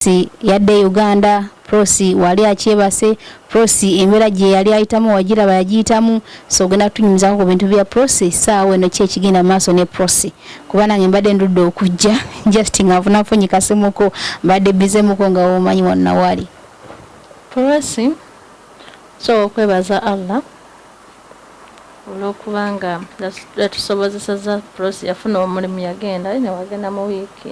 Prossy yadda e Uganda, Prossy waali akyebase, Prossy embeera gye yali ayitamu wagiraba yagiyitamu so ogenda kutunyumizaako ku bintu bya Prossy ssaawa eno ki ekigenda mu maaso ne Prossy kuba nange mbadde ndudde okujja just nga nfuna nfunyi kasimuko mbadde bize muko nga womanyi wanna wali Prossy so okwebaza Allah olwokuba nga yatusobozeseza Prossy yafuna omulimu yagenda newagenda mu wiiki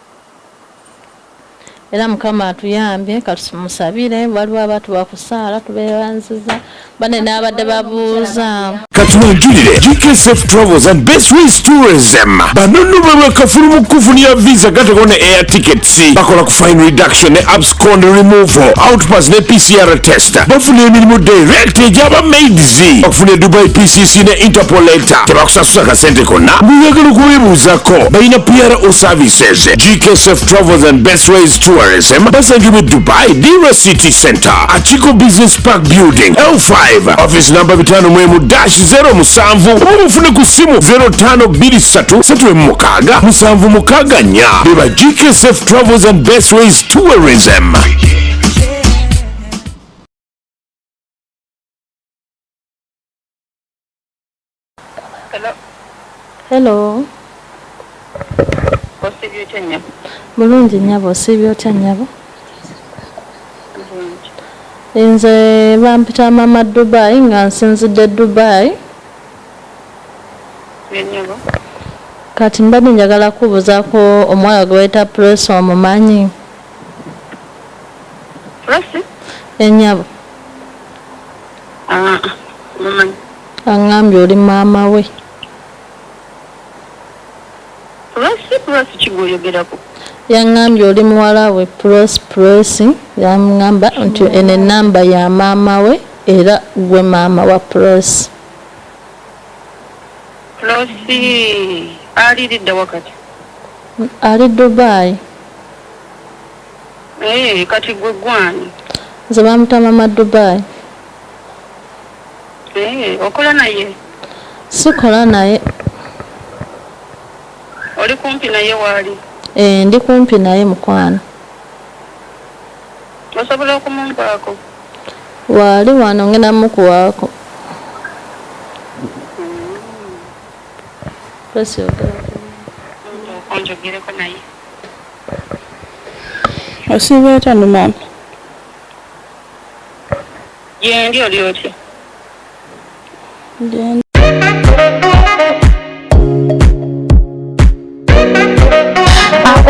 Era mukama atuyambye katumusabire waliwo abatuwa ku saala tubebanziza bane n'abadde babuuza katubajjulire gkf travels and best ways tourism banonno bwe bakafulu mu kukufunira visa gatekona air tickets bakola ku fine reduction ne kondi removal outpass ne pcr test bafuna emirimu direct egyaba maids okufuna edubai pcc ne interpol leta tebakusasula kasente konna buyagala okubebuuzako balina pro services gksf travels and best ways tourism basangibwa dubai dira city center akiko business park building l5 office namba 5 mwemu dash 0 musanvu oba mufune ku ssimu 0523 76 mukaga nya beba gksf travels and best ways Tourism. Hello. Hello. Osiibye otya nnyabo? Bulungi nnyabo, osiibye otya nnyabo? Nze bampita mama Dubai nga nsinzidde Dubai. Kati mbadde njagala kubuzaako omuwala gwe bayita Prossy omumanyi? Prossy? Enyabo. Eh, ah, ah, mumanyi. Angambye oli maama we. Prossy Prossy kigwoyogerako. Yangambye oli muwala we Prossy Prossy yangamba nti eno enamba ya maama we era gwe maama wa Prossy. Losi aliridda wakati ali dubai ee eh, kati gwe gwani nze bamuta mama dubai ee eh, okola naye sikola naye oli kumpi naye waali ee eh, ndi kumpi naye mukwano Osobola okumumpaako? Waali wano ngenda mukuwaako. Press your girl. Onjogereko naye. Osiibye otya no maama? Gyendi oli otya?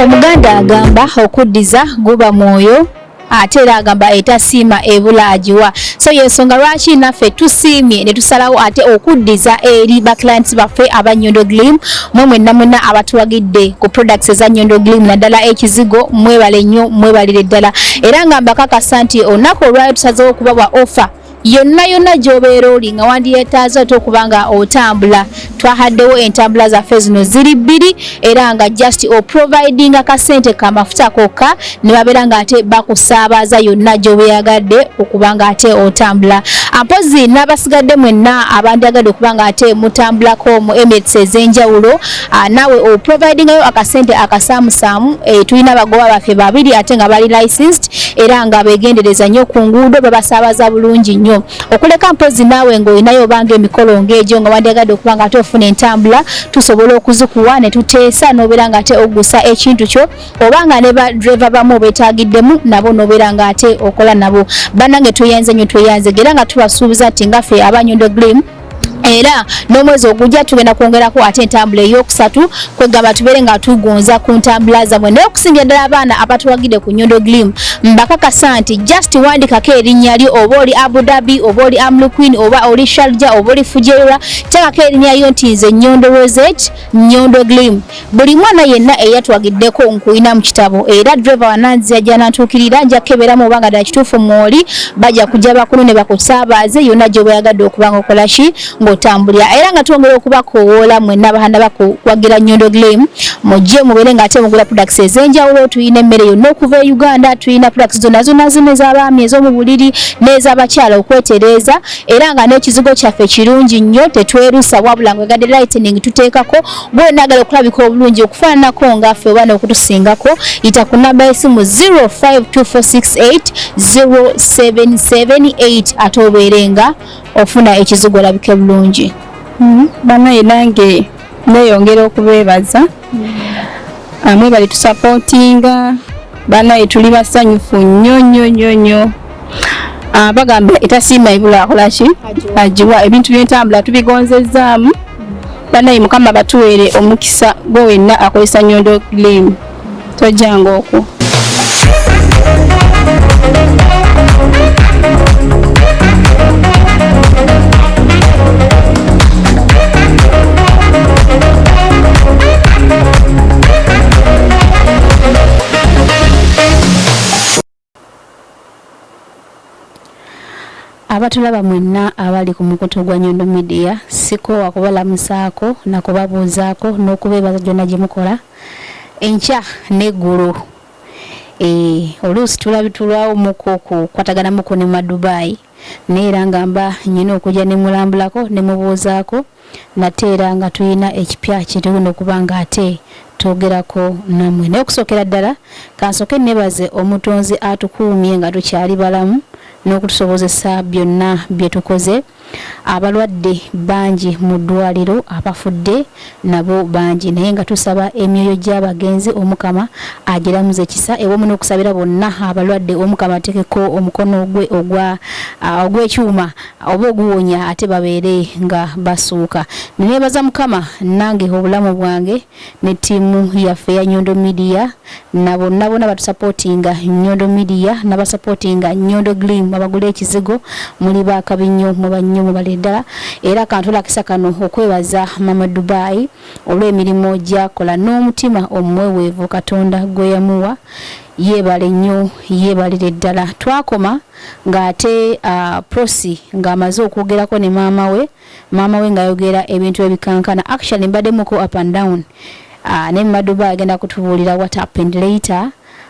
omuganda agamba okuddiza guba mwoyo ate era agamba etasiima ebula agiwa so yensonga lwaki naffe tusiimye ne tusalawo ate okuddiza eri ba clients baffe aba nyondo glim mwe mwenna mwenna abatuwagidde ku products eza nyondo glim naddala ekizigo mwebale nnyo mwebalire ddala era nga mbakakasa nti olunaku olwayo tusazewo okubawa offer yonna yonna gyobeera oli nga wandiyetaaza ate okuba nga otambula twahaddewo entambula zaffe zino ziri bbiri era nga just oprovidinga kasente kamafuta kokka ne babeera nga ate bakusaabaza yonna gyobeyagadde okuba nga ate otambula mpozi n'abasigadde mwenna abandyagadde okuba nga ate mutambulako mu emirates ez'enjawulo Ah, nawe o providingayo akasente akasaamusaamu eh, tulina abagoba baffe babiri ate nga bali licensed era nga begendereza nnyo ku nguudo babasaabaza bulungi nnyo okuleka mpozi naawe ng'olinayo obanga emikolo ng'egyo nga wandyagadde okuba nga ate ofuna entambula tusobola okuzikuwa ne tuteesa n'obeera nga ate ogusa ekintu kyo oba nga ne badreva bamu obetaagiddemu nabo n'obeera nga ate okola nabo bannange tweyanze nnyo tweyanze era nga tubasuubiza nti ngaffe abanyondo glimu era n'omwezi ogujja tugenda kwongerako ate entambula eyokusatu kwegamba tubeere nga tugonza ku ntambula zamwe naye okusingira ddala abaana abatuwagide ku nyondo glim mbakakasa nti just wandikako erinnya lyo oba oli abu dhabi oba oli amlu queen oba oli sharja oba oli fujeira tekako erinnya lyo nti nze nyondo roset nyondo glim Buli mwana yenna eyatwagiddeko nkuyina mu kitabo era driver wananzia gyanantuukirira nja kukeberamu oba nga ddala kituufu mwoli bajja kujja bakulu ne bakusaabaze yonna gyoba oyagadde okuba nga okola ki ng'otambulira era nga twongera okubakowoola mwenna bahanda bakuwagira nyondo glim mujje mubeere ng'ate mugula products ez'enjawulo tulina emmere yonna okuva e uganda tulina products zonna zonna zino ez'abaami ez'omu buliri n'ez'abakyala okwetereeza era nga n'ekizigo kyaffe kirungi nnyo tetwerusa wabula ngwegadde lightening tuteekako Gwe nagala okulabika obulungi okufaananako nga ffe oba n'okutusingako yita ku namba y'essimu 0524680778 ate obeere nga ofuna ekizigo olabike bulungi hmm, banaye nange neeyongera okubeebaza hmm. ah, mwebali tusapootinga banaye tuli basanyufu nnyo nnyo nnyo nnyo ah, bagamba etasiima ebula akolaki agiwa ebintu byentambula tubigonzezzaamu banaye mukama batuweere omukisa gwe wenna akozesa nyondo glimu tojjanga okwo abatulaba mwenna abali ku mukutu gwa nyondo midiya sikoowa kubalamusaako nakubabuuzaako n'okubeebaza gyonna gye mukola enkya n'eggulu eh, oluusi tulabitulwawo muko kukwataganamuko ne madubaayi naye era nga mba nyina okujja ne mulambulako ne mubuuzaako nate era nga tulina ekipya kyetuguno okuba nga ate twogerako namwe naye okusookera ddala kansoke nebaze omutonzi atukuumye nga tukyali balamu n'okutusobozesa byonna bye tukoze abalwadde bangi mu ddwaliro abafudde nabo bangi naye nga tusaba emyoyo gyabagenzi omukama agilamuze kisa ewamu nokusabira bonna abalwadde omukama atekeko omukono gwe ogwa ogwekyuma oba oguwonya ate babeere nga basuuka nenebaza mukama nange obulamu bwange ne tiimu yaffe ya nyondo midiya na bonna bona batusapotinga nyondo media nabasapotinga nyondo glim abagula ekizigo muli bakabi nnyo muba nnyo mubale ddala era kantulakisa kano okwebaza mama dubai olw'emirimu gyakola n'omutima omweweevu katonda gwe yamuwa yeebale nnyo yeebalire ddala twakoma ng'ate uh, prosi ng'amaze okwogerako ne maama we maama we ngayogera ebintu ebikankana actually mbadde muko up and down uh, ne maduba agenda kutubuulira what happened later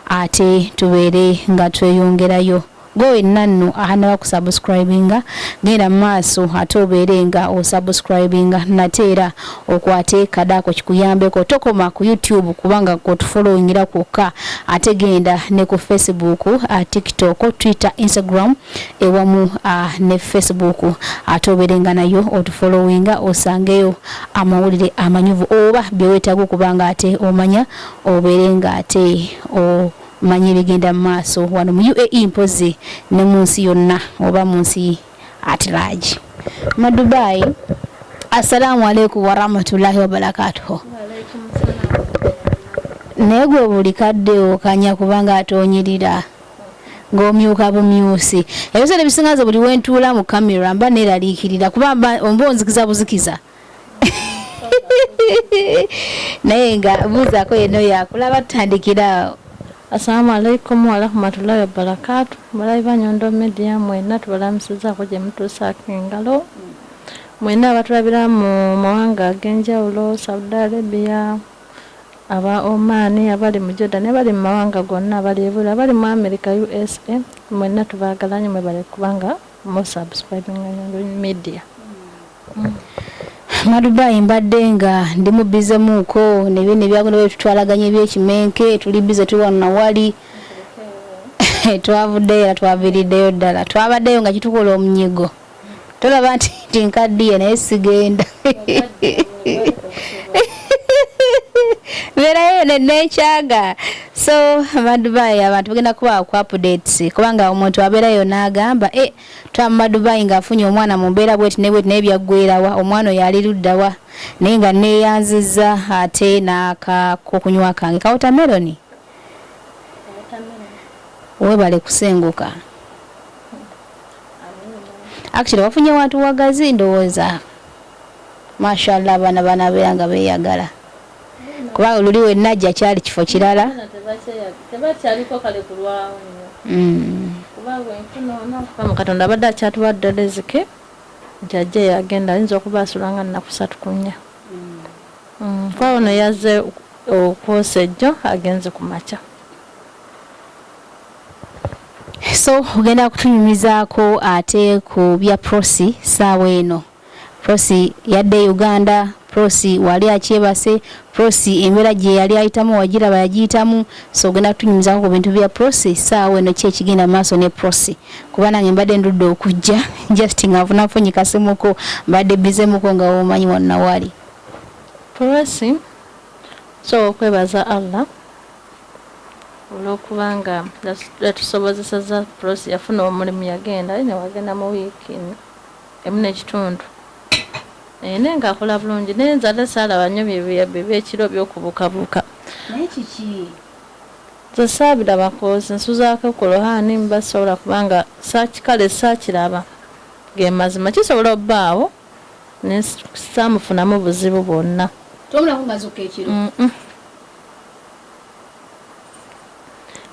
ate tubeere nga tweyongerayo gowe nanno ahanaba kusubscribinga genda maaso ate obeere nga osubscribinga nate era okwate kadaako kikuyambeko tokoma ku youtube kubanga kotufolowingira kwokka ate genda ne ku facebook uh, tiktok twitter instagram ewamu uh, ne facebook ate oberenga nayo otufolowinga osangeyo amawulire amanyuvu oba byewetaaga okuba nga ate omanya obeere nga ate omanya ebigenda mu maaso wano mu uae mpozi ne mu nsi yonna oba mu nsi at large madubai assalamu alaikum warahmatullahi wabarakatuhu naye gwe buli kadde okanya kubanga ate onyirira ng'omyuka bumyusi. Ebiseera ebisinga nze buli wentuula mu camera mba neeraliikirira kuba mba omba onzikiza buzikiza naye nga buuzaako yenna oyo akulaba tutandikira awo Assalamu alaikum warahmatullahi wabarakatu balabi ba Nyondo Media mwena tubalamusizaako gye mutuusaako engalo mwena abatulabira mu mawanga ag'enjawulo Saudi Arabia Aba Oman, abali mu Jordan, abali mu mawanga gonna, abali ebweru, abali mu America, usa, mwenna tubaagala nnyo mwebale kuba nga mu subscribinga Nyandonyi Media. Madubai mbadde nga ndi mu bize muuko ne bino ebyagenda bwe tutwalaganya ebyekimenke tuli bize tuli wano na wali twavuddeyo era twaviiriddeyo ddala twabaddeyo nga kitukola omunyigo. tolaba nti nti nkaddiye naye sigenda beerayo nenkyaga so amadubayi abantu bagenda kuba ku updates kubanga omuntu abeerayo n'agamba e eh, twama madubayi ng'afunye omwana mu mbeera bweti ne bweti naye byaggwerawa omwana oyo ali luddawa naye nga neeyanziza ate n'akakokunywa kange kawutameroni webale kusenguka actually wafunye wantu wagazi ndowooza mashallah abaana banabeera nga beyagala kuba oluli wenajja kyali kifo kirala mm. katonda abadde akyatuwa ddala ezike nti ajja yagenda ayinza okuba asula nga nakusatu kunya mpawo mm. mm. neyaze okwosa ejjo agenze ku makya so ogenda kutunyumizaako ate ku bya prosi saawa eno prosi yadde e uganda prosi wali akyebase prosi embeera gye yali ayitamu wagiraba yagiyitamu so ogenda kutunyumizaako ku bintu bya prosi saawa eno ki ekigenda mu maaso ne prosi kuba nange mbadde ndudde okujja just nga nfuna nfunyi kasimuko mbadde bizemuko nga womanyi wanna wali prosi so okwebaza allah olwokuba nga yatusobozeseza prossy yafuna omulimu yagenda aye newagenda mu week emu nekitundu Eeh naye nga akola bulungi naye nze ate salaba nyo byekiro byokubukabuka naye kiki nze sabilaba kozi nsuzako ku lohani mba sisobola kubanga kale sakilaba gemazima kisobola obaawo naye samufunamu buzibu bwonna tomulamu mazukka ekiro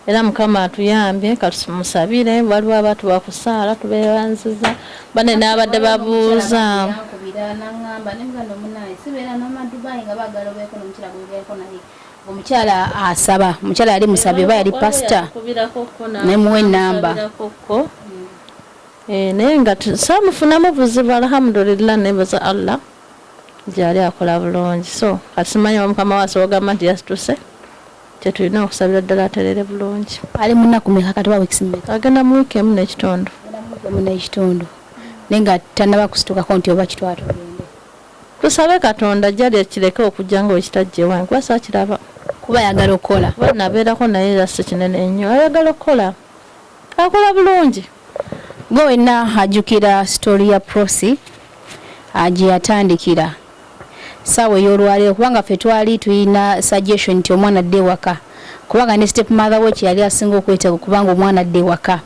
era mukama atuyambye katumusabire waliwo abantu bakusaala tubebanziza bane nabadde babuuza omukyala asaba omukyala yali musabi oba yali pasita nemuwa enamba eh, naye nga samufunamu buzibu alhamdulillah nebaza allah gyali akola bulungi so kati simanyi oba mukama we asobola ogamba nti yasituse kyetulina okusabira ddala aterere bulungi ali munaku meka kati oba weeks meka agenda mu week emu nekitundu emu nekitundu naye nga tanaba kusitukako nti oba kitwatu tusabe katonda jali ekireke okujja nga wekitajjewa nkuba sakiraba kuba ayagala okukola nabeerako naye era si kinene nnyo ayagala okukola Akola bulungi. Gwe wenna ajjukira story ya Prossy gyeyatandikira saawa eyolwaleero kubanga ffe twali tulina suggestion nti omwana adde ewaka kubanga ne step mother we kyeyali asinga okwetaaga okubanga omwana adde ewaka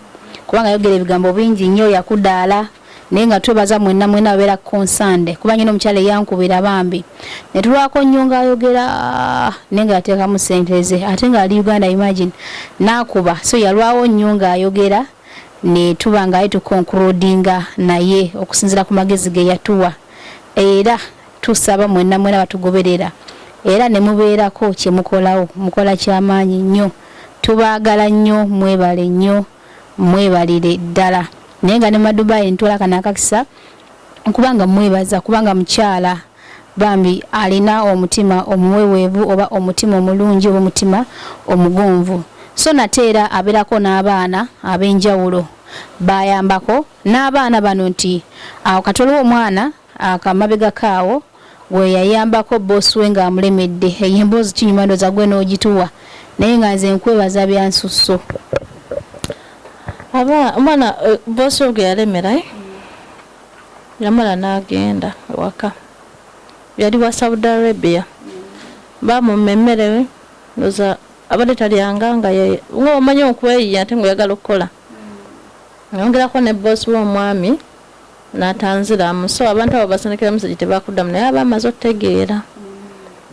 kubanga yayogera ebigambo bingi nnyo yakudaala. naye nga twebaza mwenna mwena abeera concerned kuba nyina omukyala eyankubira bambi netulwako nnyo nga ayogera naye nga yateekamu sente ze ate nga ali uganda imagine nakuba so yalwawo nnyo nga ayogera netuba nga aye tukonkurudinga naye okusinzira ku magezi ge yatuwa era tusaba mwenna mwena batugoberera era nemubeerako kyemukolawo mukola kyamaanyi nnyo tubaagala nnyo mwebale nnyo mwebalire ddala naye nga ne madubai ntwala kano akakisa okubanga mwebaza kubanga mukyala bambi alina omutima omuweweevu oba omutima omulungi oba omutima omugonvu so nate era abeerako n'abaana ab'enjawulo bayambako n'abaana bano nti awo katwaliwo omwana Ako amabegako awo gweyayambako boss we nga amulemedde eyo emboozi kinyuma ndoza gwe nogituwa naye nga nze nkwebaza byansusso. Aba mwana eh, boss we gweyalemera eh? yamala nagenda ewaka yali wa Saudi Arabia bamumma emmere we ndoza abadde talyanga nga nga omanyi okweyiya ate ngaoyagala okukola mm. ayongerako ne boss we omwami Natanziramu so abantu abo basindikira message tebakudamu naye aba amaze otegeera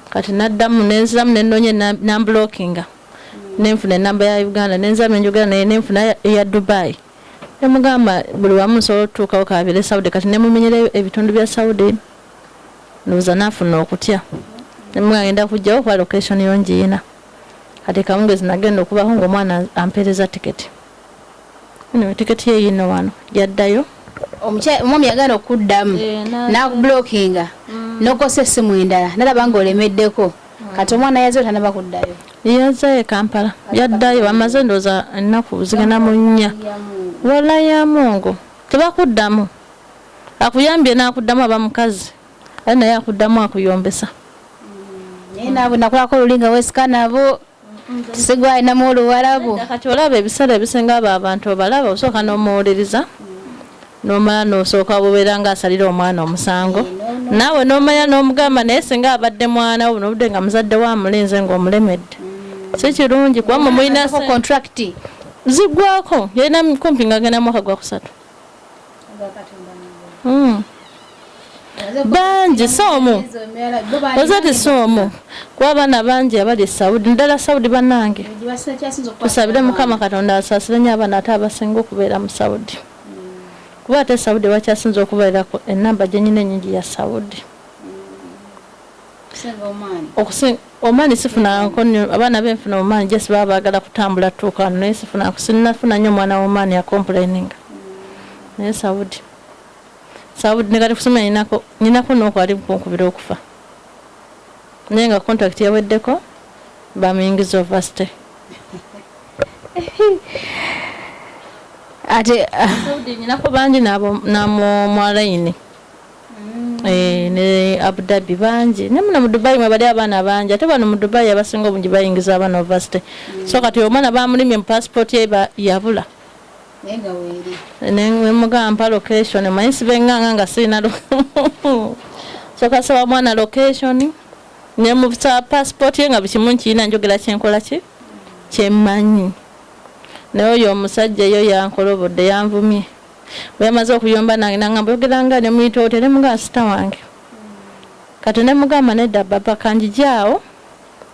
kati naddamu nenziramu nenonya nambulokinga nenfuna enamba ya Uganda nenziramu nenjogera naye nenfuna eya Dubai nemugamba buli wamu nsobola otutuukawo kabire Saudi kati nemumenyera ebitundu bya Saudi ndowooza nafuna okutya nemugagenda kujjawo kuba location yo njiyina kati kamungezi nagenda okubaho ngaomwana ampeereza tiketi Anyway, tiketi ye yino wano yaddayo omwami yagana okuddamu eh, nakubulokinga mm. nokosa essimu endala nalaba nga olemeddeko mm. kati omwana yaze otanaba kuddayo yazayo ekampala yaddayo amaze ndooza ennaku zigenda mu nnya wala ya mungu tebakuddamu akuyambye nakuddamu aba mukazi aye naye akuddamu akuyombesa mm. naye nabo nakulako olulinga wesika nabo sigwalinamu oluwarabu kati olaba ebiseera ebisinga abo abantu obalaba osooka n'omuwuliriza nomala nosooka bubeera nga asalira omwana omusango naawe nomanya n'omugamba naye singa abadde mwana wo nobudde nga muzadde wo amulinze ng'omulemedde mm. si kirungi kuba mumulina contract zigwako yalina kumpi nga agenda mwaka gwakusatu Hmm. bangi si omu oze ti si omu kuba abaana bangi abali esaudi naddala saudi banange tusabire mukama katonda asaasire nyo abaana ate abasinga okubeera mu saudi hmm. kuba ate saudi wakyasinza okubeerako enamba gyenyina enyingi ya saudi omani sifuna nkonyo abaana benfuna omani just baba bagala kutambula tuuka wano naye sifuna sinnafuna nnyo omwana womani yacomplaininga naye saudi saudi nekati kusomera nyinako nyinako nokwali kunkubira okufa naye nga contract yaweddeko bamuyingiza ovasite ate saudi nyinako bangi namumwalayini na Eh, ne Abu Dhabi bangi ne muno mu Dubai mwe bali abaana bangi ate bano mu Dubai abasinga obungi bayingiza abaana university mm. so kati omwana bamulimye mu passport ye yabula nemugamba location manyi sibenganga nga sirina so kasaba mwana location nemusa passport ye nga bukimu nkiyina njogera kyenkola ki kyemmanyi naye oyo omusajja eyo yankolobodde yanvumye bweyamaze okuyomba nange nangamba oyogera nga nemuyita otya nemugaa sita wange kati nemugamba nedda baba kanjijaawo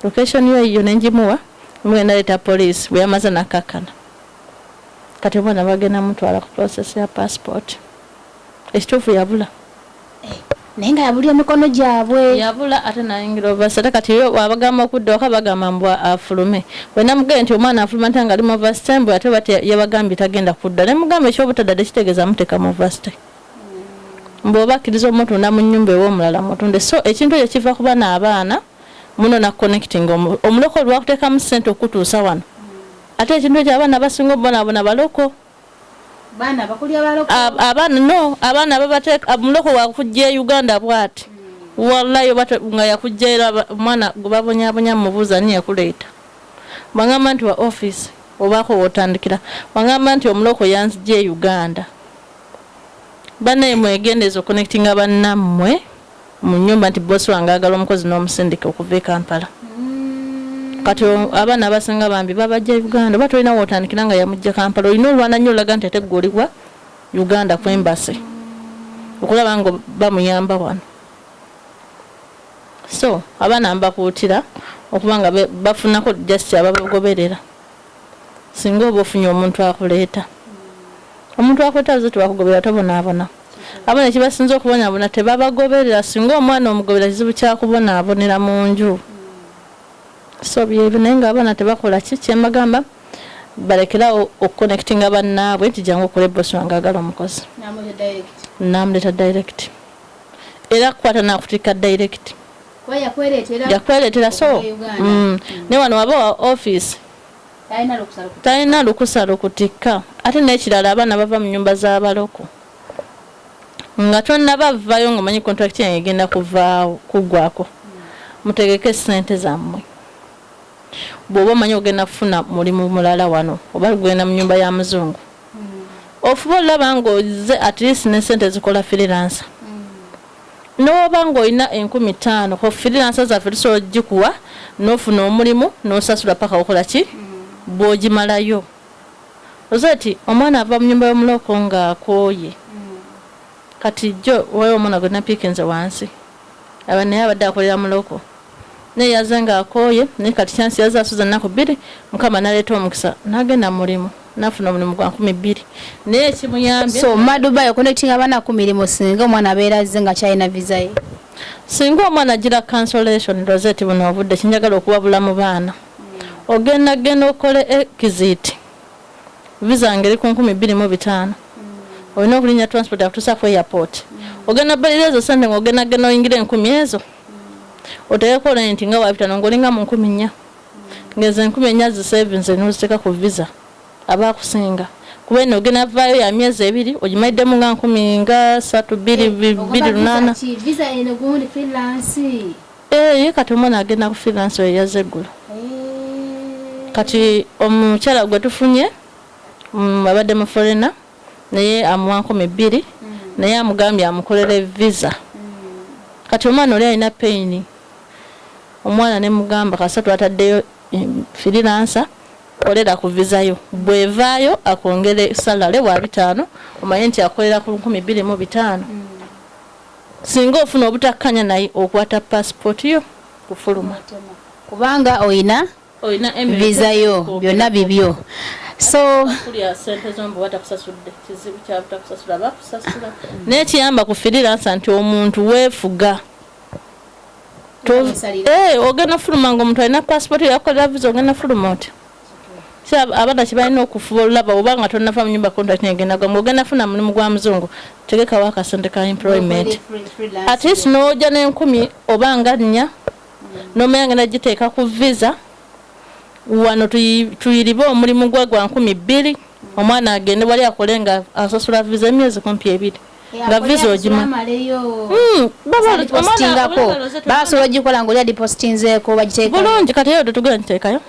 location yo eyiyo nenjimuwa mugenda leeta poliisi bweyamaze nakakkana kati omwana bagenda mutwala ku process ya passport ekituufu yabula Eh, naye nga yabulira emikono gyabwe yabula ate nayingira ovasi ate kati yo wabagamba okudda waka bagamba mbu afulume wenamugee nti omwana afuluma nta nga ali mu vasi tembu ate bat yabagambye tagenda kudda ne mugamba ekyobutadda tekitegeza muteka mu vasi te mm. mbu oba akkiriza omutunda mu nyumba ewomulala mutunde so ekintu ekyo kiva kuba naabaana muno nakuconnecting omuloko olwakuteekamu sente okutuusa wano mm. ate ekintu ekyo abaana basinga obubonabona baloko Baana bakulya baloko. Abaana no, abaana babateeka muloko wa kujja e Uganda bwati. Hmm. Wallahi oba nga yakujja era omwana gwe babonyabonya mubuuza ani yakuleeta. Bangamba nti wa office obaako wotandikira. Bangamba nti omuloko yanzija e Uganda. Banaye mwegendezo connectinga bannammwe. mu nyumba nti boss wange agala omukozi n'omusindika okuva e Kampala kati abaana abasinga bambi babajja Uganda oba tolina wotandikira nga yamujja Kampala olina olwana nnyo olaga nti ate gwoliwa Uganda kwembase okulaba nga bamuyamba wano so abaana mbakuutira okuba nga bafunako just ababagoberera Singa oba ofunye omuntu akuleeta. Omuntu akuleeta baze tebakugobera tobonaabona. Abana kyebasinze okubonabona tebabagoberera singa omwana omugobera kizibu kyakubonabonera munju so byebyo naye nga abana tebakola ki kyemagamba balekerawo okuconnectinga bannaabwe nti jangu okole bosi wange agala omukozi namuleeta direct era kukwata nakutikka direct yakweretera so mm. ne wano waba wa office talina lukusa lukutikka ate nekirala abaana bava mu nyumba z'abaloko nga tonaba vvayo nga omanyi contract yange egenda kuvaawo kuggwako mutegeke sente zammwe bwoba omanyi ogenda kufuna mulimu mulala wano oba lugenda mu nyumba ya muzungu mm. ofuba olulaba nga oze at least ne sente zikola freelancer Newooba nga olina enkumi taano ho freelancers zaffe tusobola ojikuwa nofuna omulimu nosasula paka okola ki bwojimalayo Rosette omwana ava munyumba yomuloko nga akooye kati jjo waliwo omwana gwenapikinze wansi aba naye abadde akolera muloko Naye yazze nga akooye naye kati chance yazze asuza naku bbiri mukama naleeta omukisa nagenda mulimu nafuna omulimu gwa nkumi bbiri naye ekimuyambye so madubai okonekitinga abana ku mirimu singa omwana abeera azze nga kyalina visa ye singa omwana agira cancellation rosette buno obudde kinjagala okuwabula mu baana hmm. ogenda genda okole exit visa ngeri ku nkumi bbiri mu bitaano hmm. olina okulinya transport akutusa ku airport hmm. ogenda balira ezo sente ngaogenda genda oyingira enkumi ezo mm. otekeko rent nga wabitano ngolinga mu nkumi nnya ngezo enkumi ennya zisevinze noziteeka ku visa aba akusinga kuba eno ogenda vaayo ya myezi ebiri ogimayiddemu nga nkumi nga satu biri eh, biri lunaana eh, ye kati omwana agenda ku freelance oyo yaze eggulu eh. kati omukyala gwe tufunye mm, abadde mu forena naye amuwa nkumi bbiri naye amugambye amukolere visa kati omwana oli alina payini omwana nemugamba kasa twataddeyo firiransa kolera ku visayo bwevaayo akwongere salale wa bitaano omanye nti akolera ku nkumi bbiri mu bitaano singa ofuna obutakkanya naye okwata pasipooti yo kufuluma kubanga oyina visa yo byonna bibyo so naye kiyamba ku firiransa nti omuntu weefuga eh, ogenda fuluma nga omuntu alina pasipooti yakolera visa ogenda fuluma otya abana kibalina okufuba olulaba oba nga tonava mu nyumba contract negenda gwa ng'ogenda funa mulimu gwa muzungu tegekawo akasente ka employment at least n'oja n'enkumi oba nga nnya Nomu yange nagiteeka ku visa wano tuyiribe omulimu gwe gwa nkumi bbiri omwana agende wali akole nga asasula visa emyezi kumpi ebiri nga visa ogima hmm, basobola ogikola nga oli adipostinzeeko bagiteeka bulungi kati eyo tetugenda giteekayo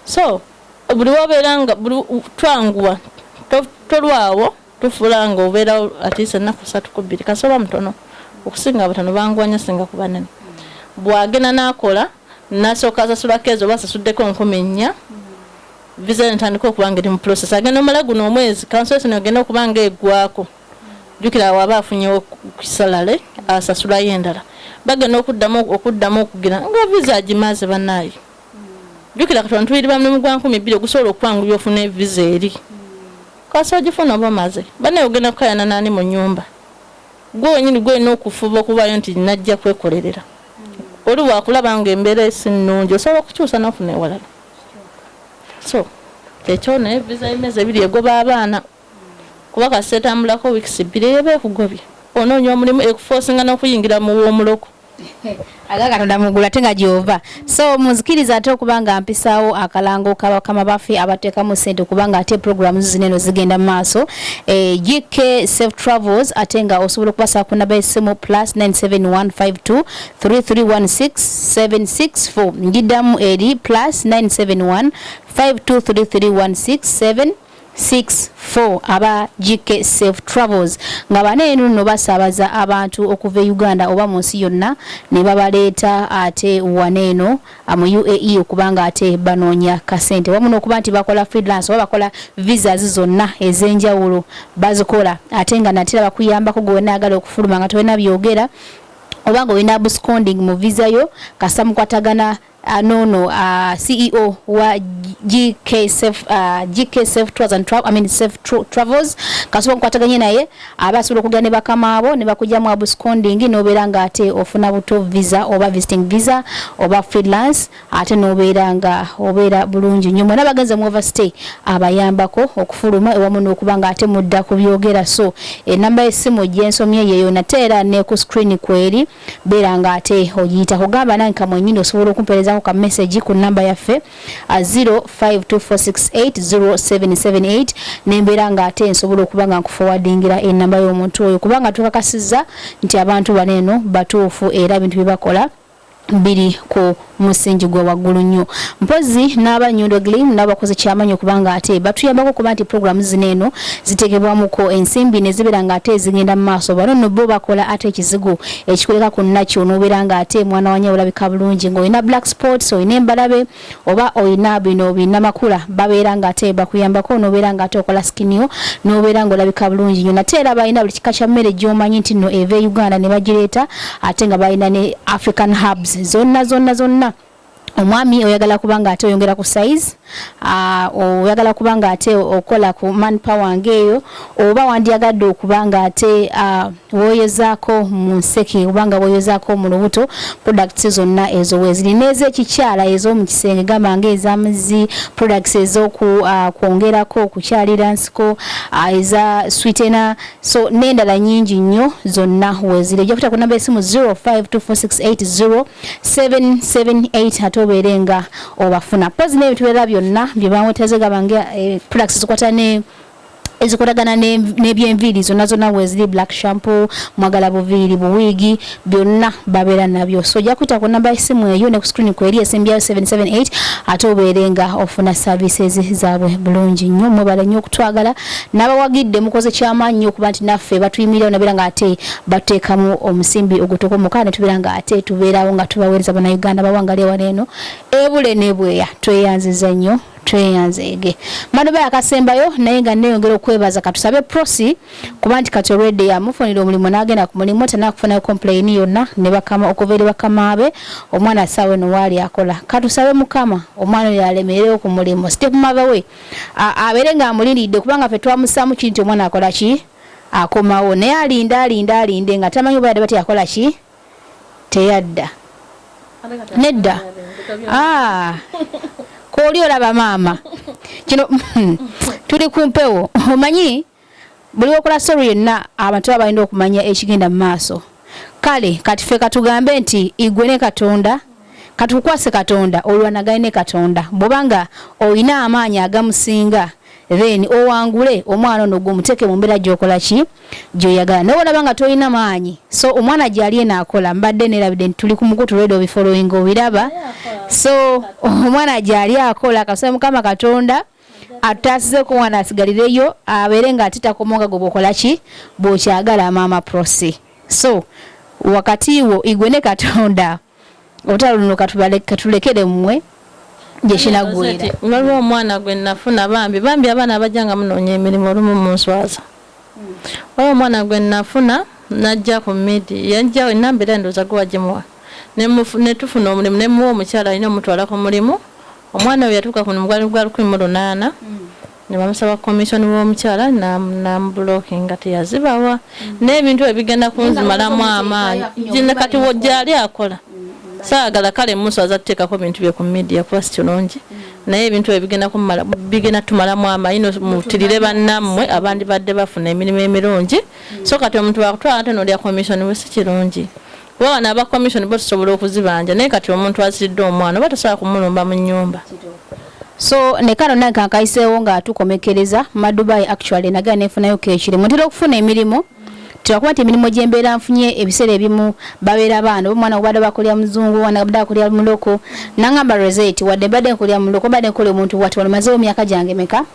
so buli wabeera nga twanguwa tolwawo Tufula nga obeera atiisa ennaku ssatu ku bbiri kasita oba mutono. Okusinga abatono banguwa nnyo ssinga ku banene. Bw'agenda n'akola n'asooka asasula keezi oba asasuddeko nkumi nnya, viza ye n'etandika okuba ng'eri mu pulosesi. Agenda omala guno omwezi kansolesoni egende okuba ng'eggwaako. Jjukira awo aba afunyewo salale asasulayo endala. Bagenda okuddamu okuddamu okugira nga viza agimaze bannaaye. Jjukira kati wano tuyiiriba mulimu gwa nkumi bbiri ogusobola okukwanguyira ofune viza eri. Kasita ogifuna oba omaze. Banaye ogenda kukayana naani mu nyumba? Gwe wenyini gwoyina okufuba okubayo nti najja kwekolerera. Oli wakulaba nga embera esi nungi osobola okukyusa nofuna ewalala. So kyekyo naye visa yemyezi ebiri egoba abaana kuba kasita etambulako weeks bbiri eyo eba ekugobye. Ononya omulimu ekufosinga nokuyingira mu womuloko. aga katonda mugulu ate nga gyova so munzikiriza ate okuba nga mpisaawo akalango kabakama baffe abateekamu sente kubanga ate programu zino eno zigenda mu maaso eh, gk safe travels ate nga osobola okubasa ku naba esimu plus 971523316764 ngiddamu eri plus 971 5233167 Six, four, aba GK Safe Travels nga bano eno nno basaabaza abantu okuva e Uganda oba mu nsi yonna ne babaleeta ate wano eno mu UAE okuba nga ate banoonya kasente wamu n'okuba nti bakola freelance oba bakola visas zonna ez'enjawulo bazikola ate nga nate era bakuyambako gwe wanaagala okufuluma nga tolina byogera oba nga olina absconding mu visa yo kasita mukwatagana Uh, no no uh, CEO wa GK Safe uh, GK Safe Tours and Travel I mean Safe tra Travels kasobola kukwataganya naye aba asobola okugenda ne bakama abo ne bakuja mu absconding n'obeera nga ate ofuna buto visa oba visiting visa oba freelance ate n'obeera nga obeera bulungi nnyo mwena bagenze mu overstay abayambako okufuluma ewamu n'okuba nga ate mudda ku byogera so enamba y'essimu gyensomye yeeyo nate era ne ku screen kweri beera nga ate ogiita kugamba nange kamwenyini osobola okumperezako ka message ku namba yaffe 0524680778 uh, nembeera nga ate nsobola okuba nga nkufowadingira enamba y'omuntu oyo kubanga tukakasiza nti abantu bano eno batuufu era bintu byebakola biri ku musingi gwa waggulu nnyo mpozi n'aba nyondo glim n'abakoze kyamanyi okubanga ate batuyambako okuba nti programu zino eno zitegebwamuko ensimbi nezibeera nga ate ezigenda mu maaso bano no bo bakola ate ekizigo ekikuleka ku nakyo nobeera nga ate mwana wanya olabika bulungi ngaolina black sports olina embalabe oba olina bino binamakula babeera nga ate bakuyambako nobeera nga ate okola skinio nobeera nga olabika bulungi nyo nate era balina buli kika kya mmere gyomanyi nti no eva e uganda ne bagireeta ate nga balina ne african hubs zonna zonna zonna omwami oyagala kuba nga ate oyongera ku size ah, oyagala kuba nga ate okola ku man power ngeeyo oba wandyagadde okuba nga ate ah, woyozaako mu nseke oba nga woyozaako mu lubuto products zonna ezo weziri n'ezekikyala ez'omu kisenge gamba nga ezamazzi products ez'okwongerako ah, okukyalira nsiko eza switena so n'endala nyingi nnyo zonna weeziri ojja kuta ku namba esimu 0524680778 ate obeere nga obafuna pozi n'ebintu birala byonna bye bawetaze gaba nga eh, products zikwata ne ezikolagana n'ebyenviiri zonna zonna weeziri black shampoo mwagala buviiri buwiigi byonna babeera nabyo so ojja kuyita ku namba y'essimu eyo ne ku screen kweri esembyayo 778 ate obeere nga ofuna services zaabwe bulungi nnyo mwebale nnyo okutwagala n'abawagidde mukoze kyamaanyi nnyo okuba nti naffe batuyimirirawo nabeera nga ate batuteekamu omusimbi ogutokomoka ne tubeera nga ate tubeerawo nga tubaweereza banauganda bawangali ewala eno ebule nebweya tweyanziza nnyo tweyanzeege madoba yakasembayo naye nga neyongera okwebaza katusabe prosi kuba nti kati olwedde yamufunira omulimu n'agenda ku mulimu tanaa kufunayo kompulayini yonna ne bakama okuva eri bakama be omwana asaawa eno waali akola katusabe mukama omwana oyo alemerewo ku mulimu sitepumatha we abeere ng'amulindiridde kubanga fe twamusaamu kiri nti omwana akola ki akomawo naye alinda alinda alinde nga tamanyi oba yadde bati akola ki teyadda nedda ah, kooli olaba maama kino tuli ku mpewo omanyi buli wakola sori yenna abantu baba balina okumanya ekigenda mu maaso kale kati fe katugambe nti igwe ne katonda katukukwase katonda olwanagane ne katonda bwobanga olina amaanyi agamusinga then owangule omwana ono gwe muteeke mu mbeera gyokola ki gyoyagala naye olaba nga tolina maanyi so omwana gyali eno akola mbadde nerabidde nti tuli ku mukutu lweda obifolowinga obiraba so omwana gyali akola kasaba mukama katonda atutaasize ku mwana asigalireyo abeere nga ate takomo nga gwe bwokola ki bwokyagala maama prosi so wakati wo igwe ne katonda olutalo luno katulekere mmwe gyekinagwira waliwo omwana gwe nafuna bambi bambi abaana abajja nga munoonya emirimu olumu munswaza waliwo omwana gwe nafuna najja ku midi yajja enamba era ndooza gwe wagimuwa netufuna omulimu nemuwa omukyala alina omutwala ku mulimu omwana oyo yatuuka kuno mugwali gwa lukumi mu lunaana mm. ne bamusaba commission w'omukyala namubulokinga teyazibawa mm. n'ebintu ebyo bigenda kunzimalamu amaanyi gine kati gyali akola mm. saagala kale muswaza tuteekako bintu bye ku media kuba si kirungi mm. naye ebintu ebyo bigenda tumalamu amaanyi mutirire bannammwe abandi badde bafuna emirimu emirungi so kati omuntu wakutwala ate nolya commission we si kirungi Kuba bano aba commission bo tusobola okuzibanja naye kati omuntu aziridde omwana oba tosobola kumulumba mu nyumba. So ne kano nange kankayiseewo nga tukomekereza madubai actually nagera nefunayo kekiri mutera okufuna emirimu twakuba nti emirimu gyembeera nfunye ebiseera ebimu babeera baana omwana obadde bakulya muzungu wana abadde akulya muloko nangamba reseti wadde mbadde nkulya muloko mbadde nkola omuntu bwati wano mazeewo myaka gyange meka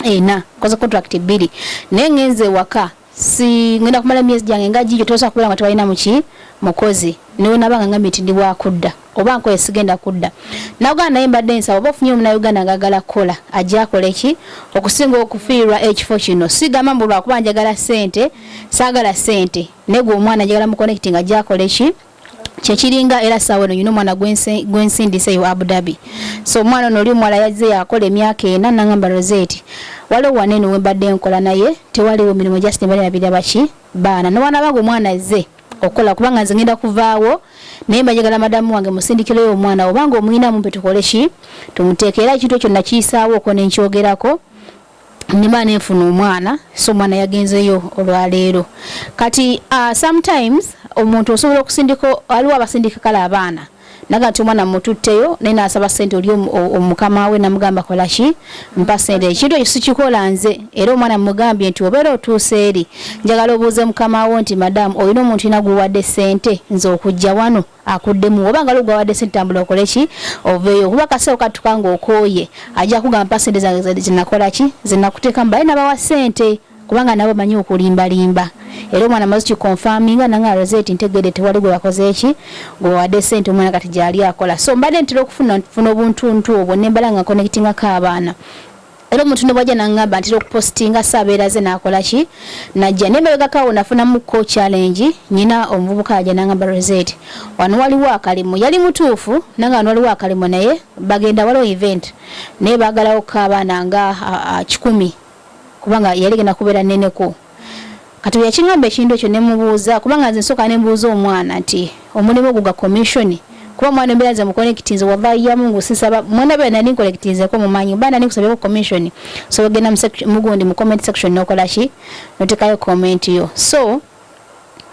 ena koze contract bbiri naye ngenze ewaka si ngenda kumala myezi gyange nga gijo tosa kubera nga tebalina muki mukozi niwe nabanga nga mitindi bwa kudda oba nkoye sigenda kudda nagana naye mbadde nsaba oba ofunye omuna uganda ngagala kukola ajja akola eki okusinga okufiirwa ekifo kino sigamba mbu lwakuba njagala sente sagala sente negwe omwana njagala mukonekiti nga ajja akola eki kyekiringa era saawa eno nyina omwana gwensindise yo abu dhabi so omwana ono oli omuwala yazze yakola emyaka ena nangamba roseti waliwo wana eno wembadde nkola naye tewaliwo mirimu just nebalabira baki baana nobaana bange omwana azze okukola kubanga nze ngenda kuvaawo naye mbajagala madamu wange musindikireyo omwana obanga omuyinamu mpe tukole ki tumuteeka era ekintu ekyo nakiyisaawo oko nenkyogerako nima nenfuna omwana so omwana yagenzeyo olwaleero kati uh, sometimes omuntu osobola okusindika aliwo abasindika kale abaana naga nti omwana mututteyo naye nasaba sente oli omukama we namugamba kolaki mpa sente ekintu ekyo sikikola nze era omwana mugambye nti obeera otuusa eri njagala obuuze mukama wo nti madamu olina omuntu ina guwadde sente nze okujja wano akuddemu oba nga lugwa wadde sente tambula okole ki oveeyo kuba kaseewo katuka nga okooye ajja kugamba mpa sente zange zinakola ki zinakuteekamu baye nabawa sente kubanga nabo manyi okulimbalimba era omwana mazi kikonfaminga nanga alaze ti ntegede tewali gwe bakoze eki gwe bawadde sente omwana kati gyali akola so mbadde ntera okufuna funa obuntuntu obwo nembala nga connectinga ko abaana era omuntu ne bwajja nangamba ntera okupostinga saabeera ze nakola ki najja naye mbebegako awo nafunamuko challenge nyina omuvubuka aja nangamba rosette wano waliwo akalimu yali mutuufu nanga wano waliwo akalimu naye bagenda waliwo event naye bagalawo kukaabaana nga kikumi kubanga yali genda kubeera neneko Kati bweyakingamba ekintu ekyo nemubuuza kubanga nze nsooka nembuuza omwana nti omulimu ogwo gwa commission kuba omwana embeera nze mukonekitinze wallahi yamungu sisaba mwena bera nali nkonekitinzeko mumanyi oba nali nkusabyeko commission so ogenda mugundi mu comment section nokolaki notekayo comment yo so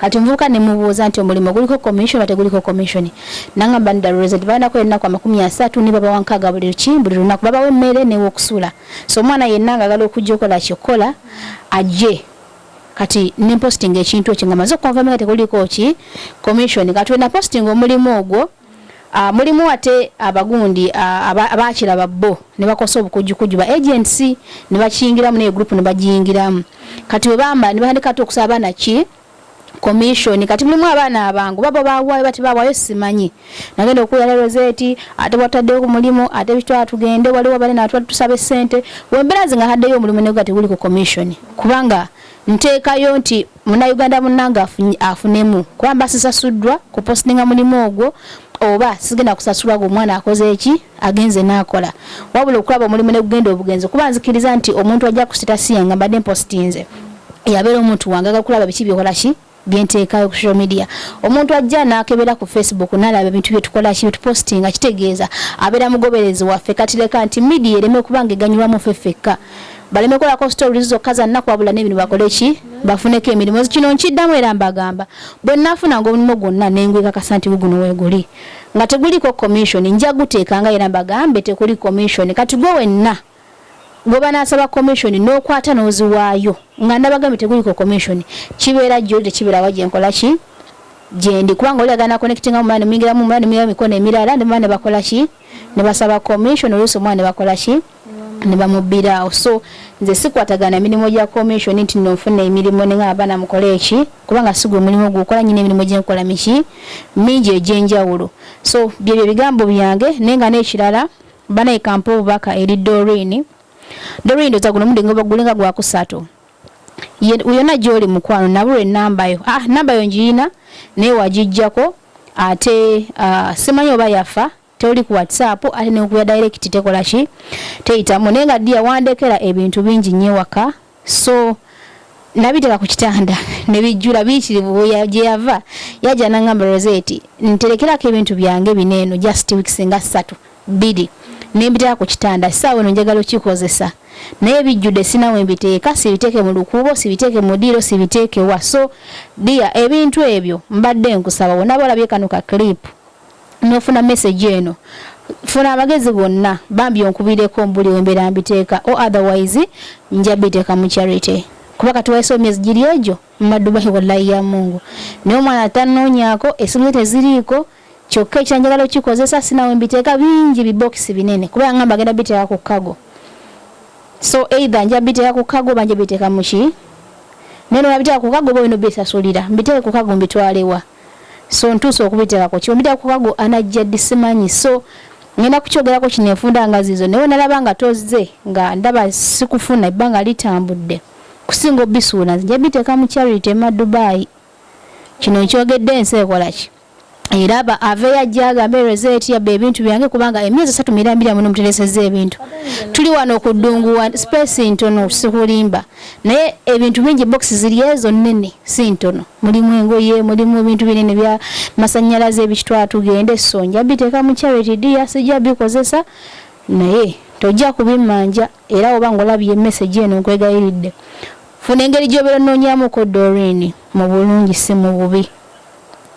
Kati omuvubuka ne mubuuza nti omulimo guliko commission oba teguliko commission? Nangamba nti dala olowooza nti balina kukola ennaku amakumi asatu ne babawa nkaaga buli luki buli lunaku babawa emmere n'ew'okusula so omwana yenna ng'agala okujja okola ki okukola ajje kati ne mpositinga ekintu ekyo nga maze okukonfama nga tekuliko ki commission kati we napositinga omulimu ogwo Ah, mulimu ate abagundi ah, abaakiraba bo ne bakosa obukujjukujju ba agents ne bakiyingiramu naye group ne bagiyingiramu kati bwe bamba ne bahandika ate okusaba abaana ki komishoni kati mulimu abaana abangu baba bawaayo bati bawaayo simanyi nagenda okuwulira roseeti ate bwataddeyo ku mulimu ate bitwala tugende waliwo bali natwala tusaba essente wembeera zi nga haddeyo omulimu nego ati guli ku komishoni kubanga nteekayo nti Munnayuganda munnange afunemu kuba mba sisasuddwa kupositinga mulimu ogwo oba sigenda kusasulwa gwe omwana akoze eki agenze n'akola wabula okulaba omulimu ne gugenda obugenzi kuba nzikiriza nti omuntu ajja kusita siya nga mbadde mpositinze yabeera omuntu wange aga kulaba biki byokola ki byenteekayo ku social media omuntu ajja n'akebera ku facebook n'alaba ebintu byetukola ki byetupositinga kitegeeza abeera mugoberezi waffe kati leka nti midiya ereme kuba nga eganyulwamu ffe ffekka baleme kolako stories zokka za nnaku wabula n'ebintu bakole ki bafuneko emirimu kino nkiddamu era mbagamba bwe nnafunanga omulimu gwonna ne ngwekakasa nti guguno weeguli nga teguliko commission nja guteekanga era mbagambe tekuli commission kati gwe wenna gwe banaasaba commission n'okwata n'oziwaayo nga ndabagambye teguliko commission kibeera gyoli tekibeerawa gye nkola ki gyendi kubanga oli agana connectinga omwana nemuyingiramu omwana nemuyingira mikono emirala nemwana nebakola ki nebasaba commission oluusi omwana nebakola ki nebamubbira awo so nze sikwatagana mirimu gya commission nti no nfuna emirimu ninga abaana mukole eki kubanga sigwe mulimu gukola nyina emirimu gyenkola miki mingi egyenjawulo so byebyo ebigambo byange naye nga n'ekirala banaye kampa obubaka eri dorin dorin ndoza guno mude gulinga gwakusatu yona gyoli mukwano nabulwa enambayo ah nambayo njiyina naye wagijjako ate uh, simanyi oba yafa toli ku whatsapp ate nekuya direct tekola ki teyitamu naye nga dia wandekera ebintu bingi nyo ewaka so nabiteka ku kitanda nebijjula biyitirivu gye yava yajja nangamba roseti nterekerako ebintu byange bino eno just weeks nga ssatu bbiri nembiteka ku kitanda saawa eno njagala okikozesa naye bijjude sinawe mbiteeka sibiteeke mu lukuubo sibiteeke mu diiro sibiteekewa so dia ebintu ebyo mbadde nkusaba wonaba olabye kano ka clipu nofuna message eno funa abagezi bonna bambi onkubireko mbuli wembera mbiteeka o otherwise nja biteeka mu charity kuba kati wayisewo myezi giri egyo mumadubahi wallayi ya mungu naye omwana tanonyako esimu ze teziriiko kyokka ekyanjagala okikozesa sinawe mbiteeka bingi bibokisi binene kuba yangamba agenda biteeka ku kago so either nja biteeka ku kago banja biteeka muki naye nolabiteeka ku kago oba olina obisasulira mbiteeke ku kago mbitwalewa so ntuuse okubiterako kyombitera kukago anajjaddi simanyi so ngenda kukyogerako kino enfunda nga zizo naye nalaba nga tozze nga ndaba sikufuna ebbanga litambudde kusinga obisuula nzija biteeka mu charity ema dubai kino nkyogedde ensi ekolaki era aba aveyo ajja agambe reseti yabba ebintu byange kubanga emyezi esatu mirambira muno mutereseza ebintu tuli wano okuddunguwa space ntono sikulimba naye ebintu bingi box ziri ezo nnene si ntono mulimu engoye mulimu ebintu binene bya masanyalaze ebitwala tugende so nja biteeka mu charity dia sijja bikozesa naye tojja kubimanja era oba ng'olabye emesegi eno nkwegayiridde funa engeri gy'obeera onoonyamuko dorini mu bulungi si mu bubi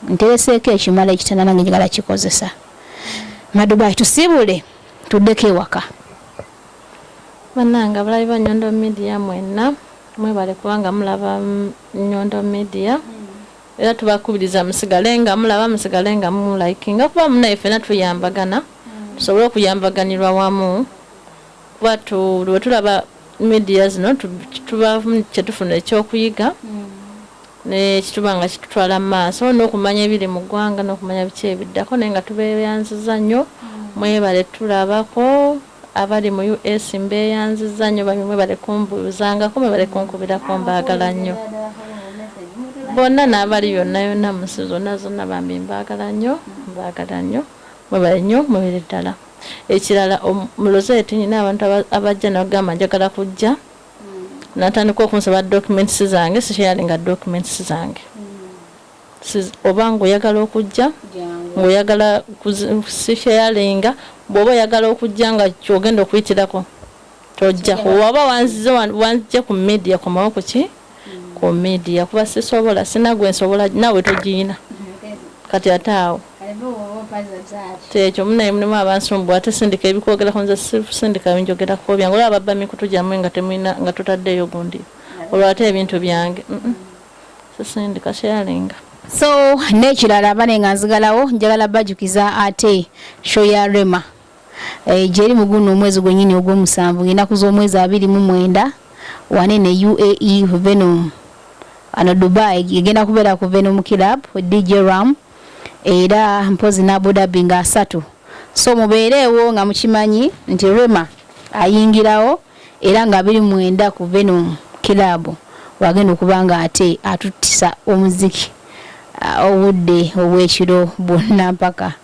ntereseeko ekimala ekitana nange njagala kikozesa madubai tusibule tuddeko ewaka Banange abalabi ba Nyondo media mwenna mwebale kuba nga mulaba Nyondo media era tubakubiriza musigale nga mulaba musigale nga mu likinga kuba munaye fena tuyambagana tusobole okuyambaganirwa wamu kuba buli wetulaba media zino tuba kyetufuna ekyokuyiga. ne kituba nga kitutwala mu maaso n'okumanya ebiri mu ggwanga n'okumanya biki ebiddako naye nga tubeeyanzizza nnyo mwebale tulabako abali mu US mbeeyanzizza nnyo bambi mwebale kumbuuzangako mwebale kunkubirako mbaagala nnyo bonna n'abali yonna yonna mu nsi zonna zonna bambi mbaagala nnyo mbaagala nnyo mwebale nnyo mubere ddala ekirala mulozeeti nyina abantu abajja nagamba njagala kujja natandika okunsaba documents zange sisharinga documents zange oba ngaoyagala okujja ngaoyagala sisharinga bwoba oyagala okujja nga kyogenda okuyitirako tojja waba wanzije ku media komawo kuki ku media kuba sisobola sina gwe nsobola nawe togiyina kati ate awo kyekyo munaye mulimu abansumbu ate sindika ebikwogerako nze sindika binjogerako byange olaba babba mikutu gyamwe nga temulina nga tutaddeeyo gundi olwo ate ebintu byange sisindika kyalinga so n'ekirala bane nga nzigalawo njagala bajukiza ate show ya rema Eh, gyeri mu guno omwezi gwennyini ogw'omusanvu ng'ennaku z'omwezi abiri mu mwenda wane ne uae venom ano dubai egenda kubeera ku venom club dj ram era mpozi ne abudabi nga asatu so mubeereewo nga mukimanyi nti rema ayingirawo era nga biri mwenda ku venom club wagenda okuba nga ate atuttisa omuziki ah, obudde obw'ekiro bwonna mpaka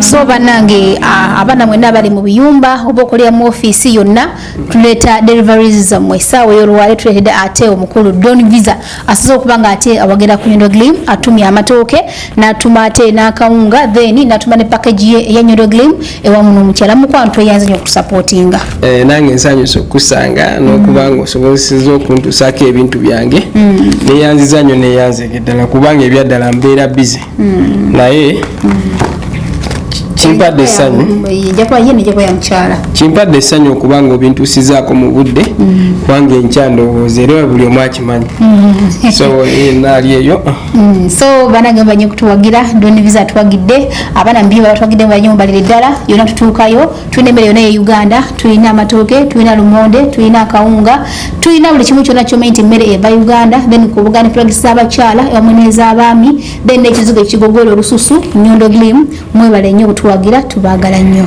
so banange abaana mwena abali mu biyumba oba okolera mu ofiisi yonna tuleeta deliveries zammwe esaawa eyolwale tuleetedde ate omukulu don visa asoze okuba nga ate awagera ku nyondo glim atumya amatooke natuma ate n'akawunga then natuma ne package ye eya nyondo glim ewamuno mukyala mukwano tweyanze nyo okutusapootinga eh, nange nsanyusa okukusanga nokuba nga mm. osobozeseza okuntusako ebintu byange mm. neyanziza nyo neyanzege ddala kubanga ebyaddala mbeera bize mm. naye kimpadde essanyu kimpadde essanyu okuba nga obintusizaako mu budde kubanga enkya ndowooza era buli omu akimanyi so eh, naali eyo so banagamba nyo okutuwagira doniviza atuwagidde abaana mubyo babatwagidde mu banyumba liri ddala yona tutuukayo tulina emmere yona ye uganda tulina amatooke tulina lumonde tulina akawunga tulina buli kimu kyona kyomanyi nti emmere eva uganda then kubuganda tulagisa abakyala ewamu n'ez'abaami then n'ekizigo ekigogoola olususu nyondo glim mwebale nnyo obutuwagira tubaagala nnyo